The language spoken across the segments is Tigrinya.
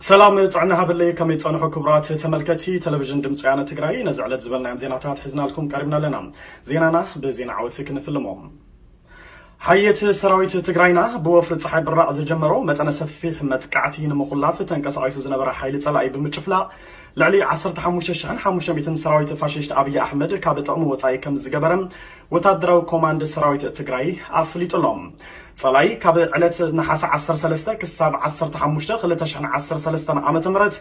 ሰላም ጥዕና ሃበለይ ከመይ ጸንሑ ክቡራት ተመልከቲ ቴሌቪዥን ድምፂ ወያነ ትግራይ ነዚ ዕለት ዝበልናዮም ዜናታት ሒዝናልኩም ቀሪብና ኣለና ዜናና ብዜና ዓወት ክንፍልሞ ሓየት ሰራዊት ትግራይና ብወፍሪ ፀሓይ ብራዕ ዝጀመሮ መጠነ ሰፊሕ መጥቃዕቲ ንምኹላፍ ተንቀሳቒሱ ዝነበረ ሓይሊ ፀላኢ ብምጭፍላቕ ልዕሊ 15500 ሰራዊት ፋሽስት ኣብዪ ኣሕመድ ካብ ጥቕሚ ወፃኢ ከም ዝገበረ ወታደራዊ ኮማንድ ሰራዊት ትግራይ ኣፍሊጡ ኣሎ። ፀላኢ ካብ ዕለት ነሓሰ ዓሰርተ ሰለስተ ክሳብ ዓሰርተ ሓሙሽተ ክልተ ሽሕን ዓሰርተ ሰለስተን ዓመተ ምህረት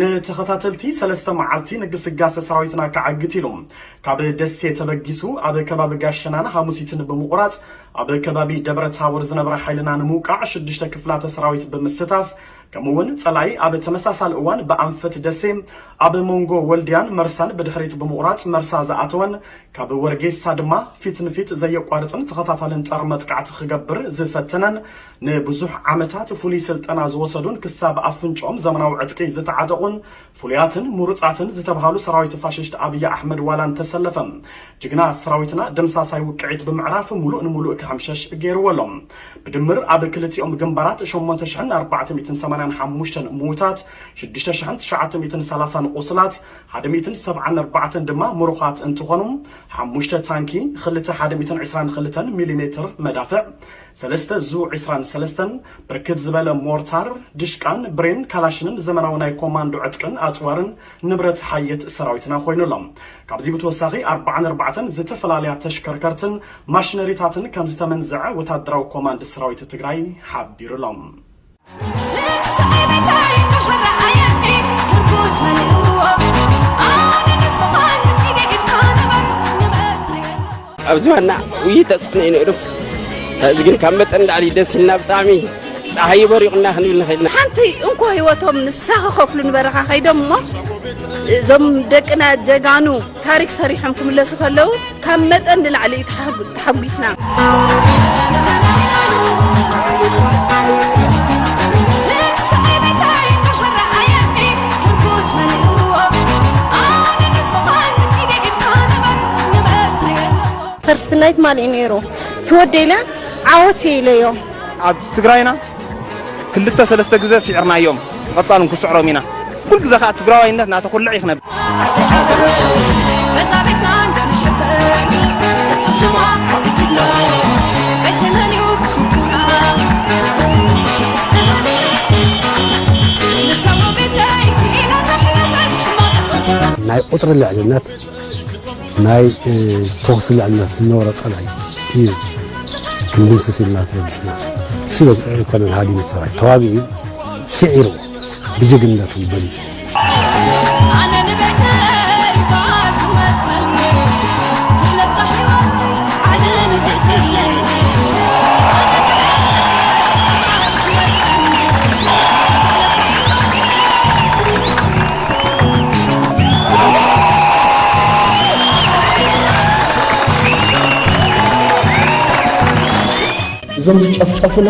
ንተኸታተልቲ ሰለስተ መዓልቲ ንግስጋሰ ሰራዊትና ከዓግት ኢሉ ካብ ደሴ ተበጊሱ ኣብ ከባቢ ጋሸናን ሃሙሲትን ብምቑራፅ ኣብ ከባቢ ደብረ ታቦር ዝነበረ ሓይልና ንምውቃዕ ሽዱሽተ ክፍላተ ሰራዊት ብምስታፍ ከምኡ እውን ፀላኢ ኣብ ተመሳሳሊ እዋን ብኣንፈት ደሴ ኣብ ሞንጎ ወልድያን መርሳን ብድሕሪት ብምቑራፅ መርሳ ዝኣተወን ካብ ወርጌሳ ድማ ፊት ንፊት ዘየቋርፅን ተኸታታልን ፀረ መጥቃዕቲ ክገብር ዝፈተነን ንብዙሕ ዓመታት ፍሉይ ስልጠና ዝወሰዱን ክሳብ ኣፍንጭኦም ዘመናዊ ዕጥቂ ዝተዓጠቑን ፍሉያትን ሙሩጻትን ዝተብሃሉ ሰራዊት ፋሽስት ኣብይ ኣሕመድ ዋላ እንተሰለፈ ጅግና ሰራዊትና ደምሳሳይ ውቅዒት ብምዕራፍ ሙሉእ ንሙሉእ ክሕምሸሽ ገይርዎ ኣሎ። ብድምር ኣብ ክልቲኦም ግንባራት ሸሞንተ ሽሕን ኣርባዕተ ሚእትን ሰማንያን ሓሙሽተን ምዉታት፣ ሽዱሽተ ሽሕን ትሽዓተ ሚእትን ሰላሳን ቁስላት፣ ሓደ ሚእትን ሰብዓን ኣርባዕተን ድማ ሙሩኻት እንትኾኑ፣ ሓሙሽተ ታንኪ፣ ኽልተ ሓደ ሚእትን ዕስራን ኽልተን ሚሊሜትር መዳፍዕ፣ ሰለስተ ዙ ዕስራን ሰለስተን፣ ብርክት ዝበለ ሞርታር፣ ድሽቃን፣ ብሬን፣ ካላሽንን ዘመናዊ ናይ ኮማንዶ ዕጥቅን ኣጽዋርን ንብረት ሓየት ሰራዊትና ኮይኑ ኣሎ። ካብዚ ብተወሳኺ ኣርብዓን ኣርባዕተን ዝተፈላለያ ተሽከርከርትን ማሽነሪታትን ከምዝተመንዘዐ ወታደራዊ ኮማንድ ሰራዊት ትግራይ ሓቢሩ ኣሎ። ኣብ ዝባና ውይ ተፅዕኖ እዩ ነይሩ እዚ ግን ካብ መጠን ላዕሊ ደስ ኢልና ብጣዕሚ ፀሓይ በሪቑና ክንብል ንኽእል ኢና ሓንቲ እንኮ ህይወቶም ንሳ ክኸፍሉ ንበረኻ ከይዶም እሞ እዞም ደቅና ጀጋኑ ታሪክ ሰሪሖም ክምለሱ ከለው ካብ መጠን ንላዕሊ እዩ ተሓጒስና። ፈርስት ናይት ማን እዩ ነይሩ ትወደይለ ዓወት ኢለዮ ኣብ ትግራይና ክልተ ሰለስተ ግዘ ሲዕርናዮም ብቀፃሉ ንክስዕሮም ኢና ኩሉ ግዘ ከዓ ትግራዋይነት ናተኩልዕ እዩ ክነብ ናይ ቁፅሪ ልዕልነት ናይ ተኹሲ ልዕልነት ዝነበሮ ጸላኢ እዩ ክንድምስስ ኢልና ተበጊስና ስለ ኮሎኔል ሃዲመት ሰራዊት ተዋጊኡ ስዒርዎ ብጅግንነቱ በሊጹ እዞም ዝጨፍጨፉና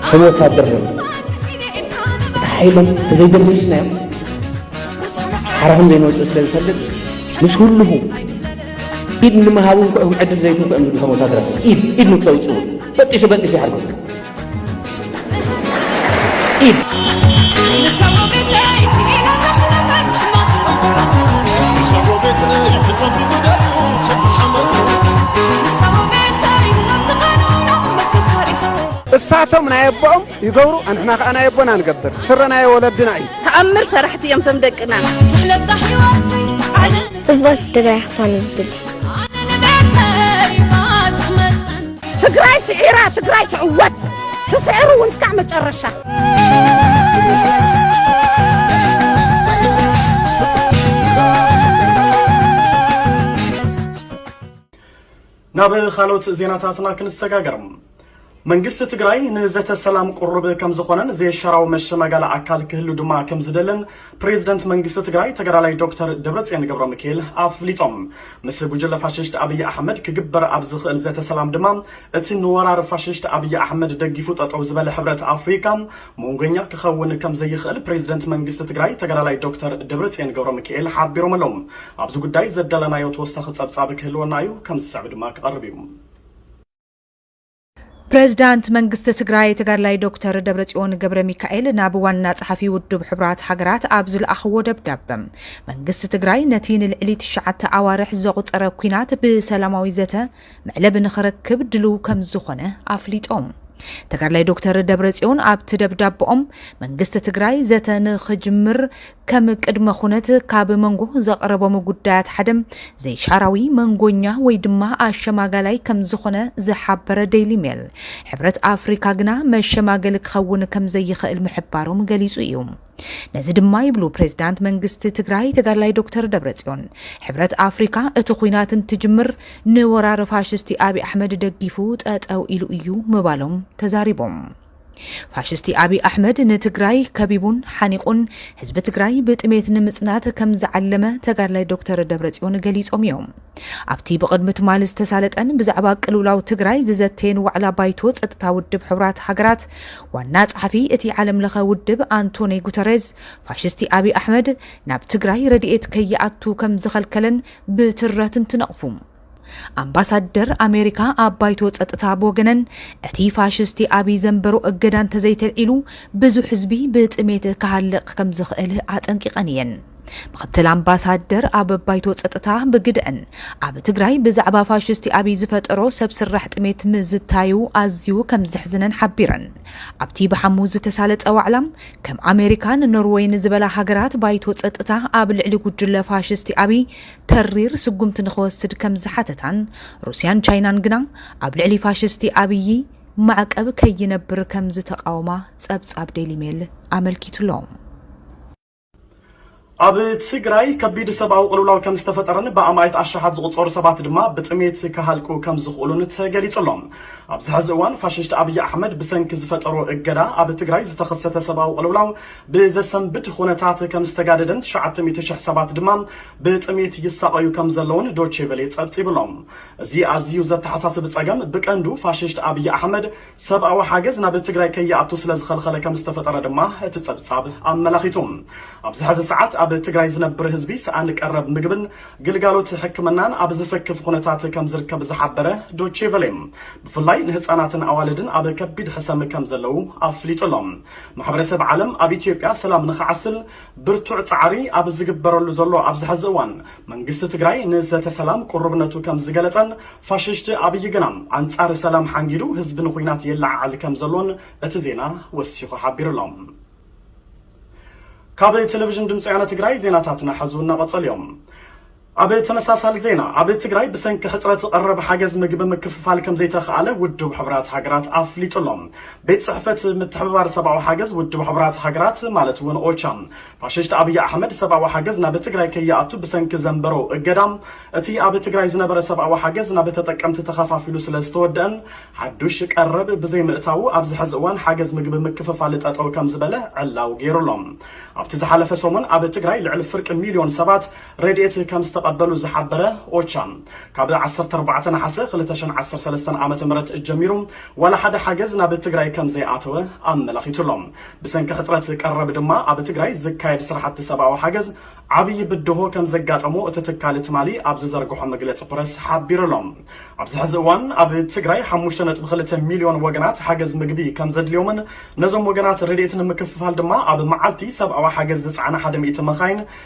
ከም ወታደር ነ እቲ ሓይሎም ተዘይደምስስናዮም ሓራኹም ዘይንወፅእ ስለ ዝፈልጥ ምስ ኩልኹ ኢድ ንምሃብ እውን ክዕም ዕድል ዘይትንኩ እዮም ዝብሉ ከም ወታደር ኢድ ኢድ ንክተውፅኡ በጢሱ በጢሱ ይሓርኩም እሳቶም ናይ ኣቦኦም ይገብሩ ኣንሕና ከዓ ናይ ኣቦና ንገብር ስረ ናይ ወለድና እዩ ተኣምር ሰራሕቲ እዮም ቶም ደቅና ጽብቕቲ ትግራይ ክትኾን እዩ ዝድሊ ትግራይ ስዒራ ትግራይ ትዕወት ትስዕር እውን እስካዕ መጨረሻ ናብ ካልኦት ዜናታትና ክንሰጋገር መንግስቲ ትግራይ ንዘተ ሰላም ቁሩብ ከም ዝኾነን ዘየሻራዊ መሸማጋሊ ኣካል ክህሉ ድማ ከም ዝደልን ፕሬዝደንት መንግስቲ ትግራይ ተጋዳላይ ዶክተር ደብረፅዮን ገብረሚካኤል ኣፍሊጦም። ምስ ጉጅለ ፋሽስት ኣብይ ኣሕመድ ክግበር ኣብ ዝኽእል ዘተ ሰላም ድማ እቲ ንወራር ፋሽስት ኣብይ ኣሕመድ ደጊፉ ጠጠው ዝበለ ሕብረት ኣፍሪካ መንጎኛ ክኸውን ከምዘይኽእል ፕሬዝደንት መንግስቲ ትግራይ ተጋዳላይ ዶክተር ደብረፅዮን ገብረሚካኤል ሓቢሮም ኣለው። ኣብዚ ጉዳይ ዘዳለናዮ ተወሳኺ ፀብፃብ ክህልወና እዩ፣ ከምዝስዕብ ድማ ክቐርብ እዩ። ፕሬዝዳንት መንግስቲ ትግራይ ተጋድላይ ዶክተር ደብረፅዮን ገብረ ሚካኤል ናብ ዋና ጸሓፊ ውድብ ሕቡራት ሃገራት ኣብ ዝለኣኽዎ ደብዳበ መንግስቲ ትግራይ ነቲ ንልዕሊ ትሽዓተ ኣዋርሕ ዘቑፀረ ኩናት ብሰላማዊ ዘተ መዕለቢ ንኽረክብ ድልው ከም ዝኾነ ኣፍሊጦም። ተጋድላይ ዶክተር ደብረጽዮን ኣብቲ ደብዳቦኦም መንግስቲ ትግራይ ዘተ ንኽጅምር ከም ቅድመ ኩነት ካብ መንጎ ዘቕረቦም ጉዳያት ሓደ ዘይሻራዊ መንጎኛ ወይ ድማ ኣሸማጋላይ ከም ዝኾነ ዝሓበረ ደይሊ ሜል፣ ሕብረት ኣፍሪካ ግና መሸማገሊ ክኸውን ከም ዘይኽእል ምሕባሮም ገሊፁ እዩ። ነዚ ድማ ይብሉ ፕሬዝዳንት መንግስቲ ትግራይ ተጋድላይ ዶክተር ደብረፅዮን፣ ሕብረት ኣፍሪካ እቲ ኹናት እንትጅምር ንወራር ፋሽስቲ ኣብይ ኣሕመድ ደጊፉ ጠጠው ኢሉ እዩ ምባሎም ተዛሪቦም። ፋሽስቲ ኣብይ ኣሕመድ ንትግራይ ከቢቡን ሓኒቑን ህዝቢ ትግራይ ብጥሜት ንምፅናት ከም ዝዓለመ ተጋድላይ ዶክተር ደብረፅዮን ገሊፆም እዮም። ኣብቲ ብቕድሚ ትማሊ ዝተሳለጠን ብዛዕባ ቅልውላው ትግራይ ዝዘተየን ዋዕላ ባይቶ ፀጥታ ውድብ ሕቡራት ሃገራት ዋና ጸሓፊ እቲ ዓለም ለኸ ውድብ ኣንቶኒ ጉተሬዝ ፋሽስቲ ኣብይ ኣሕመድ ናብ ትግራይ ረድኤት ከይኣቱ ከም ዝኸልከለን ብትረት እንትነቕፉ ኣምባሳደር ኣሜሪካ ኣብ ባይቶ ጸጥታ ብወገነን እቲ ፋሽስቲ ኣብይ ዘንበሮ እገዳ እንተዘይተልዒሉ ብዙሕ ህዝቢ ብጥሜት ክሃልቕ ከም ዝኽእል ኣጠንቂቐን እየን። ምክትል ኣምባሳደር ኣብ ባይቶ ጸጥታ ብግደእን ኣብ ትግራይ ብዛዕባ ፋሽስቲ ኣብይ ዝፈጠሮ ሰብ ስራሕ ጥሜት ምዝታዩ ኣዝዩ ከም ዘሕዝነን ሓቢረን። ኣብቲ ብሓሙስ ዝተሳለጠ ዋዕላ ከም ኣሜሪካን ኖርወይን ዝበላ ሃገራት ባይቶ ጸጥታ ኣብ ልዕሊ ጉጅለ ፋሽስቲ ኣብይ ተሪር ስጉምቲ ንኽወስድ ከም ዝሓተታን፣ ሩስያን ቻይናን ግና ኣብ ልዕሊ ፋሽስቲ ኣብዪ ማዕቀብ ከይነብር ከም ዝተቓወማ ጸብጻብ ዴይሊ ሜል ኣመልኪቱ'ሎ። ኣብ ትግራይ ከቢድ ሰብኣዊ ቅልውላው ከም ዝተፈጠረን ብኣማኢት ኣሻሓት ዝቑጸሩ ሰባት ድማ ብጥሜት ክሃልቁ ከም ዝኽእሉን ተገሊጹ ኣሎ። ኣብዚ ሕዚ እዋን ፋሽስት ኣብይ ኣሕመድ ብሰንኪ ዝፈጠሮ እገዳ ኣብ ትግራይ ዝተኸሰተ ሰብኣዊ ቅልውላው ብዘሰንብድ ኹነታት ከም ዝተጋደደን ትሽዓተ ሚእቲ ሽሕ ሰባት ድማ ብጥሜት ይሳቐዩ ከም ዘለዉን ዶቼ ቨሌ ጸብጺቡ ኣሎ። እዚ ኣዝዩ ዘተሓሳስብ ጸገም ብቀንዱ ፋሽስት ኣብይ ኣሕመድ ሰብኣዊ ሓገዝ ናብ ትግራይ ከይኣቱ ስለ ዝኸልኸለ ከም ዝተፈጠረ ድማ እቲ ጸብጻብ ኣመላኺቱ። ኣብዚ ሕዚ ሰዓት ኣብ ትግራይ ዝነብር ህዝቢ ሰኣን ቀረብ ምግብን ግልጋሎት ሕክምናን ኣብ ዘሰክፍ ኹነታት ከም ዝርከብ ዝሓበረ ዶቼ ቨሌ ብፍላይ ንህጻናትን ኣዋልድን ኣብ ከቢድ ሕሰም ከም ዘለዉ ኣፍሊጡ ኣሎ። ማሕበረሰብ ዓለም ኣብ ኢትዮጵያ ሰላም ንኽዓስል ብርቱዕ ፃዕሪ ኣብ ዝግበረሉ ዘሎ ኣብዚ ሐዚ እዋን መንግስቲ ትግራይ ንዘተ ሰላም ቁሩብነቱ ከምዝገለፀን ፋሽሽቲ ኣብይ ግና ኣንፃር ሰላም ሓንጊዱ ህዝቢ ንኹናት የለዓዕል ከምዘሎን እቲ ዜና ወሲኹ ሓቢሩ ኣሎ። ካብ ቴሌቪዥን ድምፂ ወያነ ትግራይ ዜናታትና ሐዚ እውን እናቐፀሉ እዮም። ኣብ ተመሳሳሊ ዜና ኣብ ትግራይ ብሰንኪ ሕፅረት ቐረብ ሓገዝ ምግቢ ምክፍፋል ከምዘይተኽኣለ ውድብ ሕቡራት ሃገራት ኣፍሊጡ ኣሎ። ቤት ፅሕፈት ምትሕብባር ሰብኣዊ ሓገዝ ውድብ ሕቡራት ሃገራት ማለት እውን ኦቻ ፋሽስት ኣብይ ኣሕመድ ሰብኣዊ ሓገዝ ናብ ትግራይ ከይኣቱ ብሰንኪ ዘንበሮ እገዳ እቲ ኣብ ትግራይ ዝነበረ ሰብኣዊ ሓገዝ ናብ ተጠቀምቲ ተኸፋፊሉ ስለዝተወደእን ሓዱሽ ቀረብ ብዘይምእታዉ ኣብዚ ሕዚ እዋን ሓገዝ ምግቢ ምክፍፋል ጠጠው ከምዝበለ ዕላው ገይሩ ኣሎ። ኣብቲ ዝሓለፈ ሰሙን ኣብ ትግራይ ልዕሊ ፍርቂ ሚልዮን ሰባት ረድኤት ከም ዝተቐበሉ ዝሓበረ ኦቻ፣ ካብ ዓሰርተ ኣርባዕተ ነሓሰ ክልተ ሽሕን ዓሰርተ ሰለስተን ዓመተ ምህረት ጀሚሩ ዋላ ሓደ ሓገዝ ናብ ትግራይ ከም ዘይኣተወ ኣመላኺቱ ኣሎ። ብሰንኪ ሕጽረት ቀረብ ድማ ኣብ ትግራይ ዝካየድ ስራሕቲ ሰብኣዊ ሓገዝ ዓብዪ ብድሆ ከም ዘጋጠሞ እቲ ትካል ትማሊ ኣብ ዝዘርግሖ መግለጺ ፕረስ ሓቢሩ ኣሎ። ኣብዚ ሕዚ እዋን ኣብ ትግራይ ሓሙሽተ ነጥቢ ክልተ ሚልዮን ወገናት ሓገዝ ምግቢ ከም ዘድልዮምን ነዞም ወገናት ረድኤት ንምክፍፋል ድማ ኣብ መዓልቲ ሰብኣዊ ሓገዝ ዝጸዓና ሓደ ሚእቲ መኻይን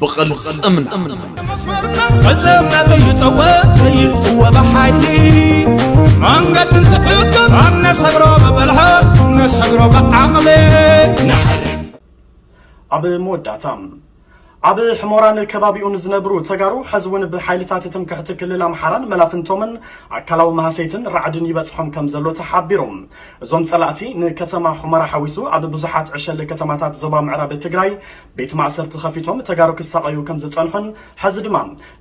ብቕልፅምና ፈፀምና ዘይጠወ ዘይጥወ ብሓይሊ መንገዲ ዝሕግር ኣብ ነሰግሮ ብብልሕት ነሰግሮ ብዓቕሊ ኣብ መወዳእታ ኣብ ሕሞራን ከባቢኡን ዝነብሩ ተጋሩ ሕዚ እውን ብሓይልታት ትምክሕቲ ክልል ኣምሓራን መላፍንቶምን ኣካላዊ መሃሰይትን ራዕድን ይበፅሖም ከም ዘሎ ተሓቢሩ እዞም ፀላእቲ ንከተማ ሑመራ ሓዊሱ ኣብ ብዙሓት ዕሸል ከተማታት ዞባ ምዕራብ ትግራይ ቤት ማእሰርቲ ከፊቶም ተጋሩ ክሳቐዩ ከም ዝጸንሑን ሕዚ ድማ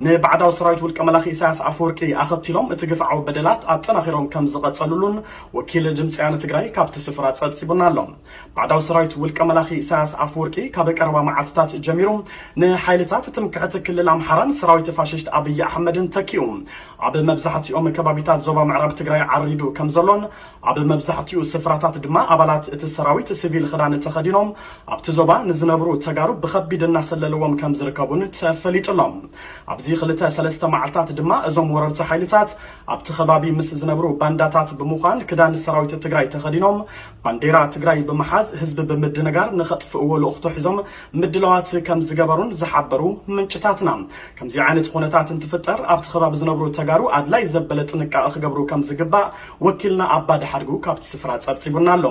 ንባዕዳዊ ሰራዊት ውልቀ መላኺ ኢሳያስ ኣፈወርቂ ኣኸቲሎም እቲ ግፍዓዊ በደላት ኣጠናኺሮም ከም ዝቐጸሉሉን ወኪል ድምጺ ወያነ ትግራይ ካብቲ ስፍራ ጸብጺቡና ኣሎ። ባዕዳዊ ሰራዊት ውልቀ መላኺ ኢሳያስ ኣፈወርቂ ካብ ቀረባ መዓልትታት ጀሚሩ ንሓይልታት ትምክሕቲ ክልል ኣምሓራን ሰራዊት ፋሽስት ኣብይ ኣሕመድን ተኪኡ ኣብ መብዛሕትኦም ከባቢታት ዞባ ምዕራብ ትግራይ ዓሪዱ ከም ዘሎን ኣብ መብዛሕቲኡ ስፍራታት ድማ ኣባላት እቲ ሰራዊት ስቪል ኽዳን ተኸዲኖም ኣብቲ ዞባ ንዝነብሩ ተጋሩ ብኸቢድ እናሰለልዎም ከም ዝርከቡን ተፈሊጡ ኣሎ። ኣብዚ ኽልተ ሰለስተ መዓልታት ድማ እዞም ወረርቲ ሓይልታት ኣብቲ ኸባቢ ምስ ዝነብሩ ባንዳታት ብምዃን ክዳን ሰራዊት ትግራይ ተኸዲኖም ባንዴራ ትግራይ ብምሓዝ ህዝቢ ብምድንጋር ንኸጥፍእዎ ልእኽቶ ሒዞም ምድላዋት ከም ዝገበሩን ዝሓበሩ ምንጭታትና ከምዚ ዓይነት ኹነታት እንትፍጠር ኣብቲ ኸባቢ ዝነብሩ ተጋሩ ኣድላይ ዘበለ ጥንቃቐ ክገብሩ ከም ዝግባእ ወኪልና ኣባ ድሓድጉ ካብቲ ስፍራ ጸብጺቡና ኣሎ።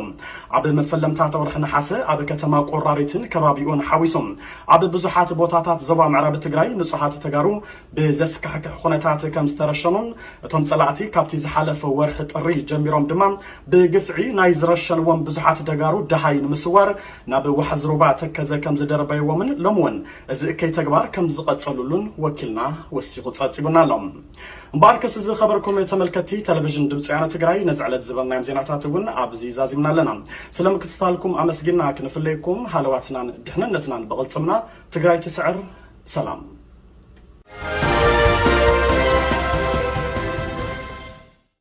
ኣብ መፈለምታት ወርሒ ነሓሰ ኣብ ከተማ ቆራሪትን ከባቢኡን ሓዊሱ ኣብ ብዙሓት ቦታታት ዞባ ምዕራብ ትግራይ ንጹሃት ተጋሩ ብዘስካሕክሕ ኩነታት ከም ዝተረሸኑን እቶም ጸላእቲ ካብቲ ዝሓለፈ ወርሒ ጥሪ ጀሚሮም ድማ ብግፍዒ ናይ ዝረሸንዎም ብዙሓት ደጋሩ ደሃይ ንምስዋር ናብ ዋሕዚ ሩባ ተከዘ ከም ዝደርበይዎምን ሎሚ እውን እዚ እከይ ተግባር ከም ዝቐጸሉሉን ወኪልና ወሲኹ ጸብጺቡና ኣሎ። እምበኣርከስ እዚ ኸበርኩም ተመልከቲ ተለቪዥን ድምፂ ወያነ ትግራይ ነዚ ዕለት ዝበልናዮም ዜናታት እውን ኣብዚ ዛዚምና ኣለና ስለምክትታልኩም ኣመስጊና ክንፍለየኩም ሃለዋትናን ድሕንነትናን ብቕልፅምና ትግራይ ትስዕር ሰላም